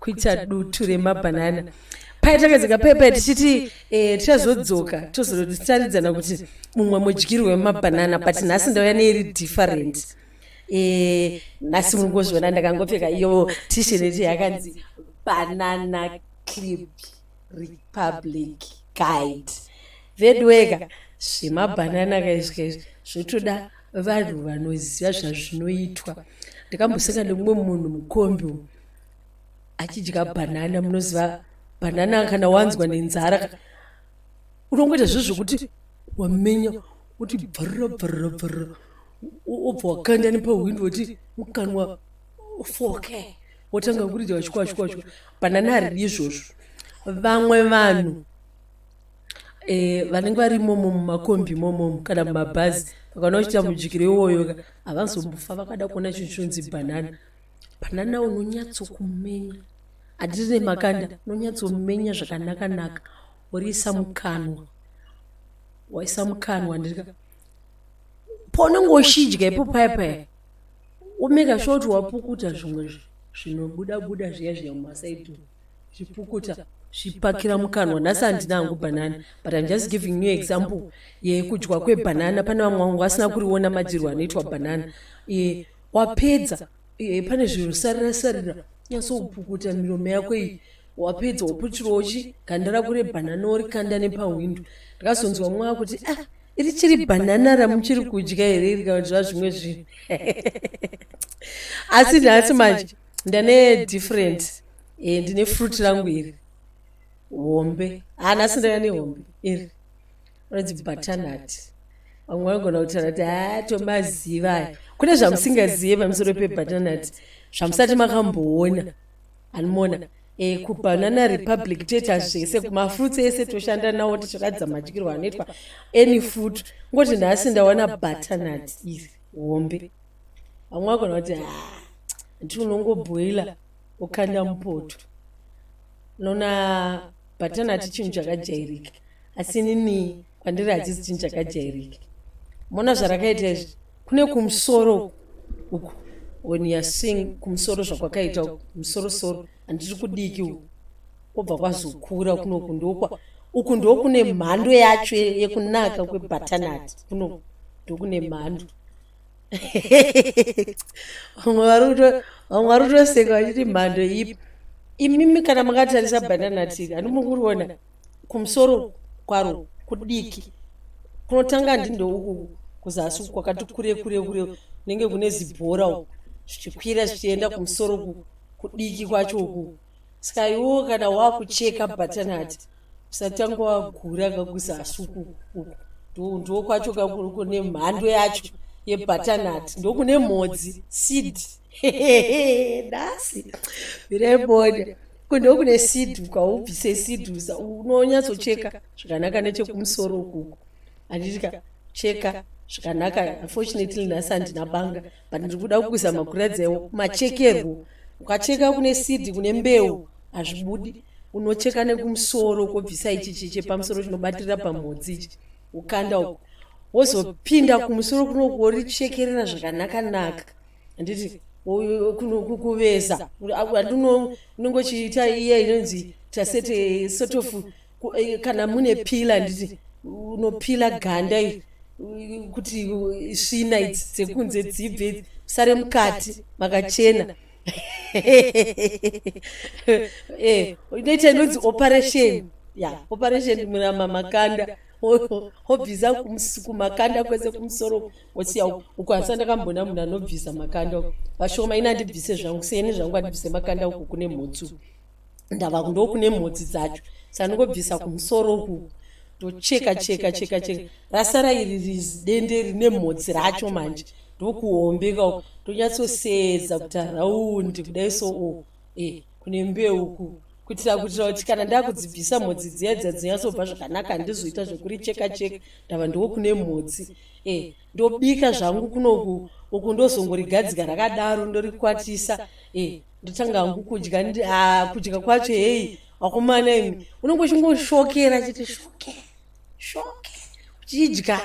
kuita dutu remabhanana paye takadzika paye paye tichiti eh, tichazodzoka tozotaridzana kuti mumwe mudyirwo wemabhanana but nhasi ndauya neiri different eh, nhasi muri ngozviona ndakangopfeka iyo tisheneti yakanzi banana clip republic guide vedweka zvemabhanana kaizvi zvotoda vanhu vanoziva zvazvinoitwa ndakamboseka nemumwe munhu mukombi achidya banana munoziva banana kana wanzwa nenzara unongoita zve zvekuti wamenya kuti bvarira bvarira bvarira obva wakanda nepahwindo woti mukanwa foke wotanga kuridza wachikwachikwachikwa banana haridi izvozvo vamwe vanhu Eh, vanenge vari momo mumakombi momomo kana mumabhazi vakaona kuchita mujikiro iwoyoka havazombofa vakada kuona chinhu chonzi bhanana banana unonyatsokumenya handiri nemakanda unonyatsomenya zvakanakanaka woriisa mukanwa waisa mukanwa ndika paunenge uchidya ipo paya paya womeka sure kuti wapukuta zvimwe zvinobuda buda zviya zviya mumasaidi zvipukuta zvipakira mukanwa nhasi handina hangu banana but im just giving new example yekudyiwa kwebanana pane vamwe vangu vasina kuriona madyirwo anoitwa banana wapedza e, pane zvinhu sarira sarira nyatsopukuta miromo yako iyi wapedza woputirawo chi ganda rako rebhanana worikanda nepahwindo ndikazonzwa mumwe akuti ah iri chiri bhanana ramuchiri kudya here iri kana kuti zvazvimwe zvinhu asi nhasi manje ndane different e, ndine fruit rangu iri hombe hanasi ndaya nehombe iri anonzi bhatanati vamwe vanogona kutaura kuti haa tomaziva aya kune zvamusingazive pamusoro pebhatanati zvamusati makamboona anomona e, eh, kubanana republic toita zvese kumafruits ese toshanda nawo tichiratidza madyirwo anoitwa any food ngoti nhasi ndawana bhatanati iri hombe vamwe vagona kuti ha ah, nti unongoboila ukanda mupoto unoona bhatanati chinhu chakajairika asi inini kwandiri hachisi chinhu chakajairika mona zvarakaita izvi kune kumusoro uku when youare seeing kumusoro zvakwakaita uku musorosoro handiri kudiki uku kwobva kwazokura kunoku ndokwa uku ndokune mhando yacho yekunaka kwebhatanati kunoku ndokune mhando vamwe vari kutoseka vachiti mhando ipi imimi kana makatarisa bhanana tiri handimukuruona kumusoro kwaro kudiki kunotanga ndindo uku kuzasi uku kwakati kure kure kure kunenge kune zibhora uku zvichikwira zvichienda kumusoro uku kudiki kwacho uku saka iwo kana wakucheka bhatanati usatanga wagura kakuzasi uku uku ndiwo kwacho kakuruko nemhando yacho yebhatanati ndokune mhodzi seed nhasi vireboda kuno kune sidhu kwaubvise sidhu unonyatsocheka zvakanaka nechekumusoro ukuku anditika cheka zvakanaka unfortunately nhasi handina banga but ndiri kuda kukuzama kuradzewo machekerwo ukacheka kune sidhi kune mbeu hazvibudi unocheka nekumusoro kobvisa ichi chiche pamusoro chinobatirira pamhodzi ichi ukanda uku wozopinda kumusoro kunoku worichekerera zvakanaka naka handiti kuveza andinongochiita iye inonzi tasete sort of eh, kana mune pila handiti unopila ganda iri kuti svina idzi dzekunze dzibve sare mukati makachena eh, inoita inonzi operation ya operation murama makanda obvisa kumakanda kwese kumusoro osiya uku asi andakambona munhu anobvisa makanda uku vashoma ini andibvise zvangu seni zvangu andibvise makanda uku kune mhotsi uku ndava kundo kune mhotsi dzacho sandingobvisa kumusoro uku ndocheka cheka cheka cheka rasara iri rizidende rine mhotsi racho manje ndokuhombeka uku ndonyatsoseedza kuti haraundi kudai so uku e kune mbeu uku kuitira kuitira kuti kana ndakudzibvisa mhodzi dziya dza dzinyatsobva zvakanaka handizoita zvekuricheka cheka ndava ndiwo kune mhodzi e ndobika zvangu kunoku uku ndozongorigadzika rakadaro ndorikwatisa e ndotanga hangu kudya kudya kwacho heyi wakomana imi unenge uchingoshokera chiti shoke shoke uchidya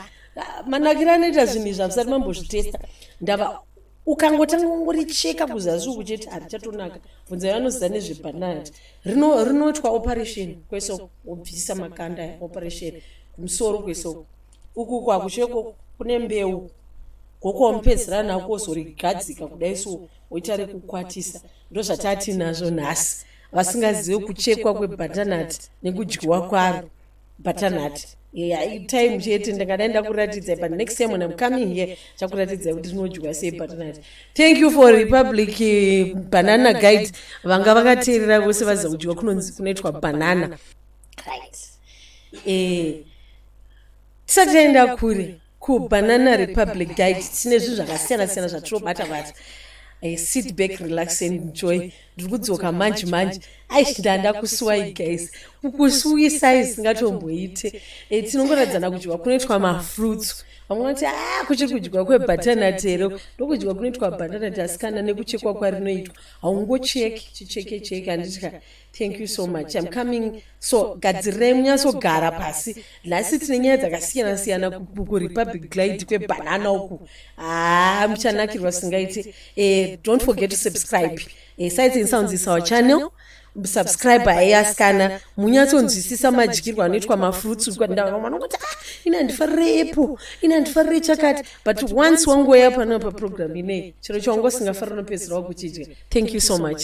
manakiro anoita zvinhu izvi havisati mambozvitesta ndava ukangotanga kungoricheka kuzasi uku chete harichatonaka bvunza yavanoziva nezvepanad rinoitwa operation kwese wobvisa makanda operation kumusoro kwese uku uku hakuchive kune mbeu goko wamupedzera nako wozorigadzika kudai so woita rekukwatisa ndozvatatinazvo nhasi vasingazive kuchekwa kwebatanat nekudyiwa kwaro butternut yeah, time chete ndingadai ndakuratidzai but next time when im coming here chakuratidzai kuti rinodyiwa sei butternut thank you for republic eh, banana guide vanga vakateerera vose vaziva kudyiwa kunonzi kunoitwa banana right eh, tisati taenda kure KuBanana Republic Guide tine zvinhu zvakasiyana siyana zvatinobata bata. I sit back, relax and enjoy. Ndiri kudzoka manje manje. Aish ndanda kusuwai guys. Kukusuwisai singatomboite. Eh tinongoradzana kudyiwa kunoitwa mafruits. Vamwe vanoti ah kuchiri kudyiwa kwebatana tero. Ndokudyiwa kunoitwa banana tasikana nekuchekwa kwarinoitwa. Haungocheki, chicheke cheke handitya. thank you so much im coming so gadzirai munyatsogara pasi nhasi tine nyaya dzakasiyana siyana kurepublic glide kwebhanana uku haa ah, muchanakirwa singaiti eh, don't forget to subscribe eh, sites and sounds is our channel subscribe aiasikana munyatsonzwisisa madyirwo anoitwa mafruits vanongoti ah, ini handifarire apple ini handifarire chakati but once wangoya panopa program inei chero chawangosingafarire unopedzisira wakuchidya thank you so much